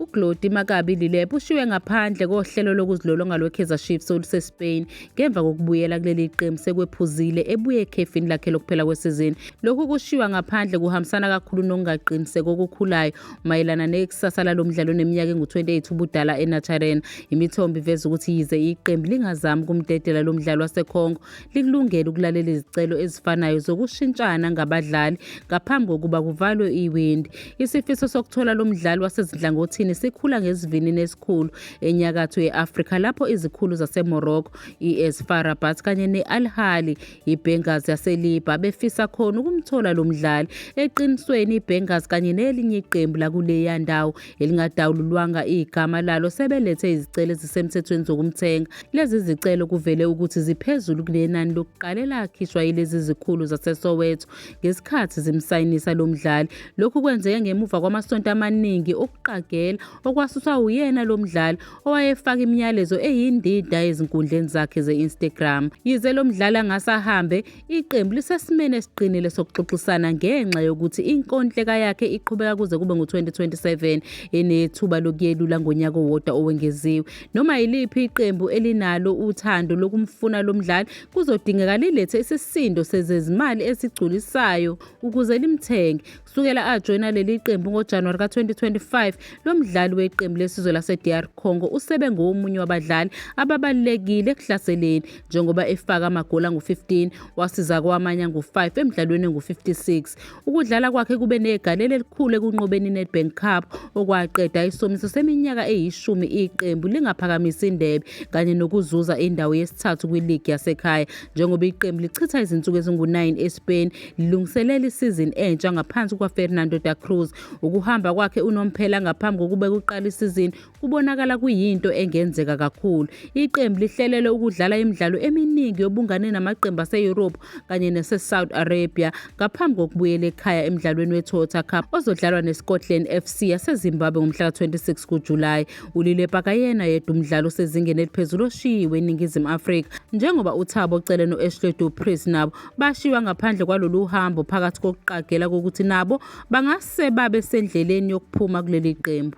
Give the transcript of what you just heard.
UGlody Makabi Lilep ushiwe ngaphandle kohlelo lokuzilolonga lweKaizer Chiefs oluseSpain ngemva kokubuyela kuleli qembu sekwephuzile ebuye ekhefini lakhe lokuphela kwesizini. Lokhu kushiywa ngaphandle kuhambisana kakhulu nokungaqiniseki okukhulayo mayelana nekusasa lalo mdlali oneminyaka engu-28 ubudala eNaturena. Imithombo iveza ukuthi yize iqembu lingazami ukumdedela lo mdlali waseCongo, likulungele ukulalela izicelo ezifanayo zokushintshana ngabadlali ngaphambi kokuba kuvalwe iwindi. Isifiso sokuthola lo mdlali wasezinhlangothini sikhula ngesivinini esikhulu enyakatho ye-Afrika lapho izikhulu zaseMorocco, i-AS FAR Rabat kanye ne-Al Ahly, iBenghazi yaseLiba befisa khona ukumthola lo mdlali. Eqinisweni iBenghazi kanye nelinye iqembu lakuleya ndawo elingadawululwanga igama lalo sebelethe izicelo ezisemthethweni zokumthenga. Lezi zicelo kuvele ukuthi ziphezulu kunenani lokuqala elakhishwa yilezi zikhulu zaseSoweto ngesikhathi zimsayinisa lo mdlali. Lokhu kwenzeke ngemuva kwamasonto amaningi okuqagela okwasusa uyena lo mdlali owayefaka imiyalezo eyindida ezinkundleni zakhe ze-Instagram. Yize lo mdlali angase ahambe Iqembu lisesimeni esiqinile sokuxoxisana ngenxa yokuthi inkontileka yakhe iqhubeka kuze kube ngu-2027 enethuba lokuyelula ngonyaka owodwa owengeziwe. Noma yiliphi iqembu elinalo uthando lokumfuna lo mdlali kuzodingeka lilethe isisindo sezezimali esigculisayo ukuze limthenge. Kusukela ajoyina leli qembu ngoJanuwari ka-2025, lo mdlali weqembu lesizwe lase-DR Congo usebe ngowomunye wabadlali ababalulekile ekuhlaseleni njengoba efaka amagoli angu-15 wasiza kwamanye angu-5 emdlalweni engu-56. Ukudlala kwakhe kube negalelo elikhulu ekunqobeni i-Nedbank Cup okwaqeda isomiso seminyaka eyishumi iqembu lingaphakamisi indebe kanye nokuzuza indawo yesithathu kwiligi yasekhaya njengoba iqembu lichitha izinsuku ezingu-9 eSpain lungiselela isizini entsha ngaphansi kukaFernando da Cruz. Ukuhamba kwakhe unomphela ngaphambi kokuba kuqale isizini kubonakala kuyinto engenzeka kakhulu. Iqembu lihlelele ukudlala imidlalo eminingi yobungane namaqembu ase-Europe kanye nase-Saudi Arabia ngaphambi kokubuyela ekhaya emdlalweni we-Toyota Cup ozodlalwa ne-Scotland FC yaseZimbabwe ngomhla ka-26 kuJulayi. Ulile Pakayena yedwa umdlalo osezingeni eliphezulu oshiyiwe eNingizimu Afrika njengoba uThabo Cele no-Ashley Du Preez nabo bashiywa ngaphandle kwalolu hambo phakathi kokuqagela kokuthi nabo bangase babe sendleleni yokuphuma kuleli qembu.